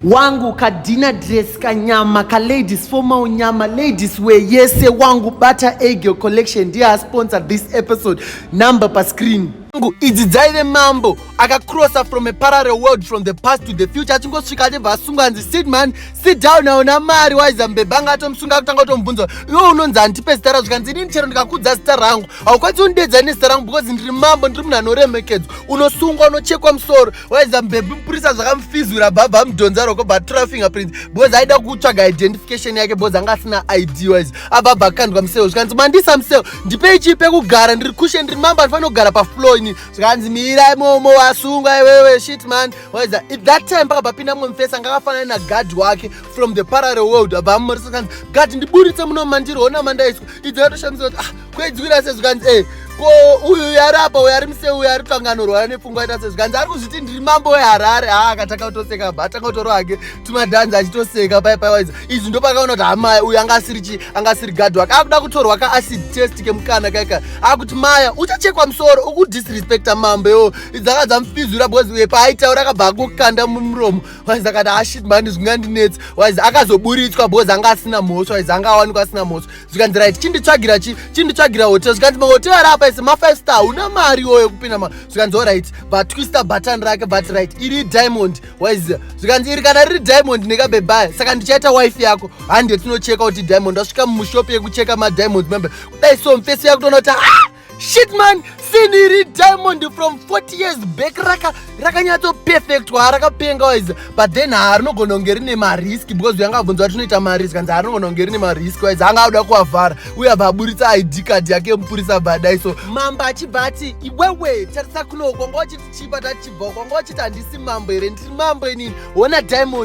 wangu kadina dress kanyama ka ladies formal nyama ladies wear yese wangu bata egel collection ndiye asponsor this episode number pa screen wangu idzi dzaive mambo akacrossa from a parallel world from the past to the future achingosvika achibva asungwa anzi sit man sit down aona mari waiza mbeba anga atomusunga kutanga kutomubvunza iwe unonzi handipe zita ra zvikanzi inini chero ndikakudza zita rangu haukwanisi undiedza nezita rangu because ndiri mambo ndiri munhu anoremekedzwa unosungwa unochekwa musoro waiza mbebhi mupurisa zvakamufizura bhabha amudhonza roko batura fingerprint because aida kutsvaga identification yake because anga asina id wise abhabha akandwa museo zvikanzi mandisa museo ndipei chii pekugara ndiri kushe ndiri mamba ndifanira kugara paflow ini zvikanzi mirai momo wasungwa iwewe shit man waiza if that time pakabva pinda mumwe mufesi anga akafanana nagard wake from the parallel world abva amumorisa kanzi gard ndiburitse muno mandiri hona mandaiswa idzi yatoshamisa kuti ah kwedzi kuita sezvikanzi e ko uyu yarapa uyu ari muse uyu ari kutanga anorwara nepfungwa aita sezvikanzi ari kuzviti ndiri mambo weharare haa akatanga kutoseka bha atanga kutoro hake tumadhanzi achitoseka pai paiwaiza izvi ndopakaona kuti hamaya uyu anga asiri chi anga asiri gadhi wake akuda kutorwa ka acid test kemukana kaika akuti maya uchachekwa musoro ukudisrespecta mambo yoo dzanga dzamufizura because uye paaitaura akabva akukanda mumuromo waiza akati ashit ah, mani zvingandinetsi waiza akazoburitswa because anga asina mhosva waiza anga awanikwa asina mhosva zvikanzi right chinditsvagira chi chinditsvagira hotel zvikanzi mahotel ari apa ese mafive star hauna mari iyoyo yekupinda ma zvikanzi orit vatwista button rake but right iri diamond wise zvikanzi iri kana riri diamond nekabebaya saka ndichaita wife yako hande tinocheka kuti diamond asvika mushop yekucheka madiamond membe kudai so mfesi yakutoona kuti ah! shit man siniri diamond from 40 years back raka rakanyatso perfect waarakapenga wise but then haarinogona kunge rine marisk because uyanga abvunza kuti unoita marisk hanzi haarinogona kunge rine marisk wise anga auda kuavhara uye abva aburitsa id card yake mupurisa abva adai so mambo achibva ati iwewe tarisa kunoko kwanga wachiti chipa tachibva kwanga wachiti handisi mambo here ndiri mambo inini hona diamond